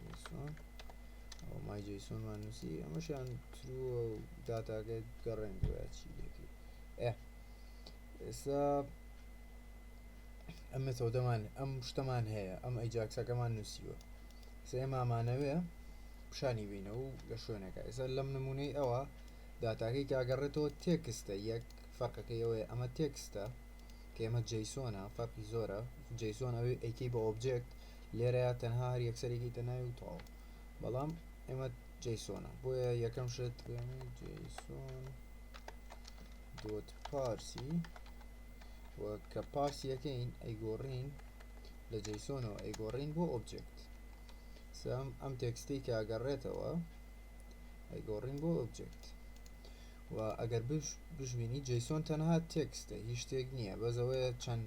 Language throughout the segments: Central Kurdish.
جەیسۆن ئەوە مای جەیسۆنمان نووسی ئەمەشیان ترووە و داتاگەی گەڕێن گویا چی لەکەی ئێ ئێستا ئەم مێتۆدەمان ئەم شتەمان هەیە ئەم ئەیجاکسەکەمان نووسیوە سێمامانەوێ پیشانی بینە و لە شوێنەکە ئێستا لەم نمونەی ئەوە داتاکەی کاگەڕێتەوە تێکستە یەک فەرقەکەی ئەوەیە ئەمە تێکستە کێمە جەیسۆنە فەرقی زۆرە جەیسۆن ئەوەی ئەیکەی بە ئۆبجێکت لێرەیا تەنها هەر یەکسەرێکی تە ناوی و تەواو بەڵام ئێمە جیسۆنە بۆیە یەکەم شت جیسۆن دۆت پارسی و کە پارسی یەکەین ئەیگۆڕین لە جیسۆنەوە ئەیگۆڕین بۆ ئۆبجێکت سام ئەم تێکستی کە ئەگەڕێتەوە ئەیگۆڕین بۆ ئۆبجێکت و ئەگەر بژبینی جیسۆن تەنها تێکستە هیچ شتێک نییە بەزەوەیە چەند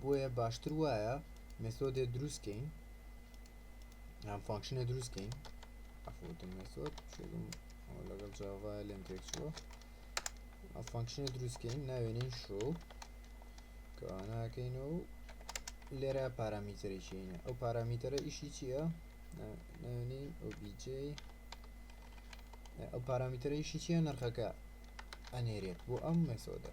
بۆیە باشتر وایە مێسۆدێ دروست کەین یان فانکشنە دروست کەین ئەفوتم مێسۆد شێگم لەگەڵ جاوا لێم تێک چووە ئە فانکشنە دروست کەین ناوێنین شۆ کەوانەکەین و لێرە پارامیتەری چینە ئەو پارامیتەرە ئیشی چییە ناوێنین ئۆبیJ ئەو پارامیتەرە ئیشی چیە نرخەکە ئەنێرێت بۆ ئەم مێسۆدە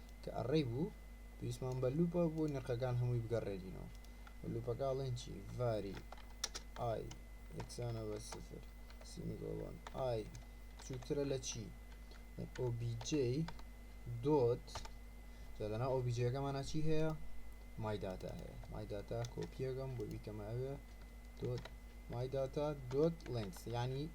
کە ئەڕەی بوو پێویستمان بە لوپە بۆ نرخەکان هەمووی بگەڕێنینەوە لوپەکە ئەڵێن چی ڤاری ئای یەکسانە بە سفر سیمیگۆڵۆن ئای بچووکترە لە چی OBJ دۆت جادەنا ئۆبیجەکەمانە چی هەیە مای داتا هەیە مای داتا کۆپیەکەم بۆی بیکەمە ئەوێ دۆت مای داتا دۆت لنکس ینی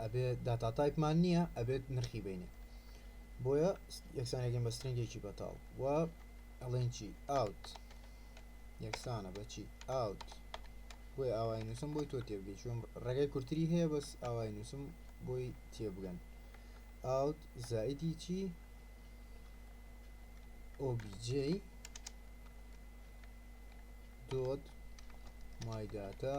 ئەبێ داتا تایپمان نییە ئەبێت نرخی بینێ بۆیە یەکسانەکەم بە سترنگێکی بەتاڵ و ئەڵێن چی ئاوت یەکسانە بەچی ئاوت بۆی ئاوای نووسم بۆی تۆ تێبگەی چۆن ڕێگای کورتری هەیە بەس ئاوای نووسم بۆی تێبگەن ئاوت زایدی چی OBJ دوت مایداتا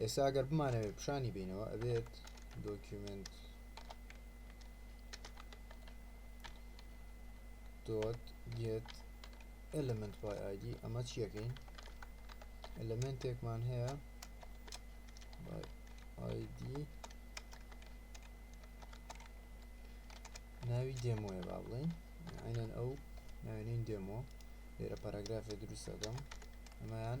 ئێستا ئەگەر بمانەوێت پیشانی بەینەوە ئەبێت دۆکیومێنت دۆت گێت ئێلێمێنت بای ئایدی ئەمە چیەکەین ئەلێمێنتێکمان هەیە بای ئایدی ناوی دێمۆیە با بڵین عینەن ئەو ناوێنین دێمۆ لێرە پاراگرافێ دروستەکەم ئەمەیان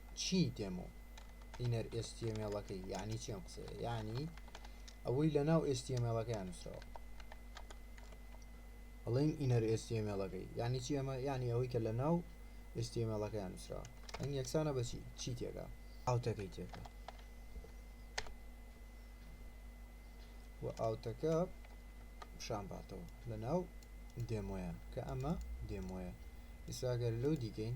چی دێمۆ ئینەر ئێس تی ئێم ئێڵەکەی یەعنی چی ئەم قسەیە یەعنی ئەوەی لەناو ئێس تی ئێم ئێڵەکەیان نووسراوە ئەڵێین ئینەر ئێس تی ئێم ئێڵەکەی یەعنی چی ئەمە یەعنی ئەوەی کە لەناو ئێس تی ئێم ئێڵەکەیان نووسراوە ئەنگ یەکسانە بەچی چی تێکە ئاوتەکەی تێکە و ئاوتەکە پیشان باتەوە لەناو دێمۆیان کە ئەمە دێمۆیە ئیساگەر لەو دیکەین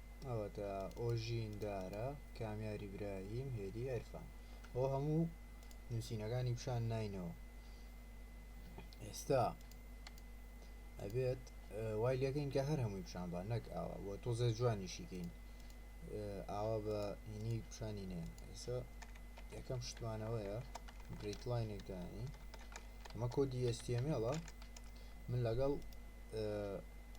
ئەوەتا ئۆژین دارا کامیاری براهیم هێدی عرفان ئەو هەموو نووسینەکانی پیشان ناینەوە ئێستا ئەبێت وای لەکەین کە هەر هەمووی پیشان بە نەک ئاوا بۆ تۆزە جوانیشیکەین ئاوا بە هینی پیشانی نێن ئێستا یەکەم شتمانەوەیە بریت لاینێک دانی ئەمە کۆدی ئێستیمێڵە من لەگەڵ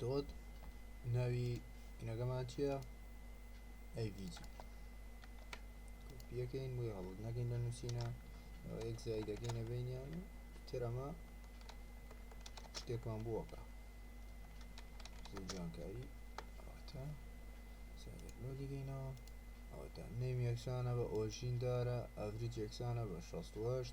دۆت ناوی نەگەمان چیە ئەیڤجی کۆپیەکەین بۆی هەڵت نەکەین لە نووسینە ئەوە یەک زای دەکەینە بینیان و ترەمە شتێکمان بووەکە زۆر جوانکاری ئەوەتا سەرلۆ دیگەینەوە ئەوەتا نەیم یەکسانە بە ئۆژین دارە ئەڤریج یەکسانە بە 16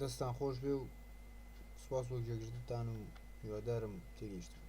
دەستتان خۆشبێ و سوپاس بۆ گوێگرتنتان و هیوادارم تێگەیشتبن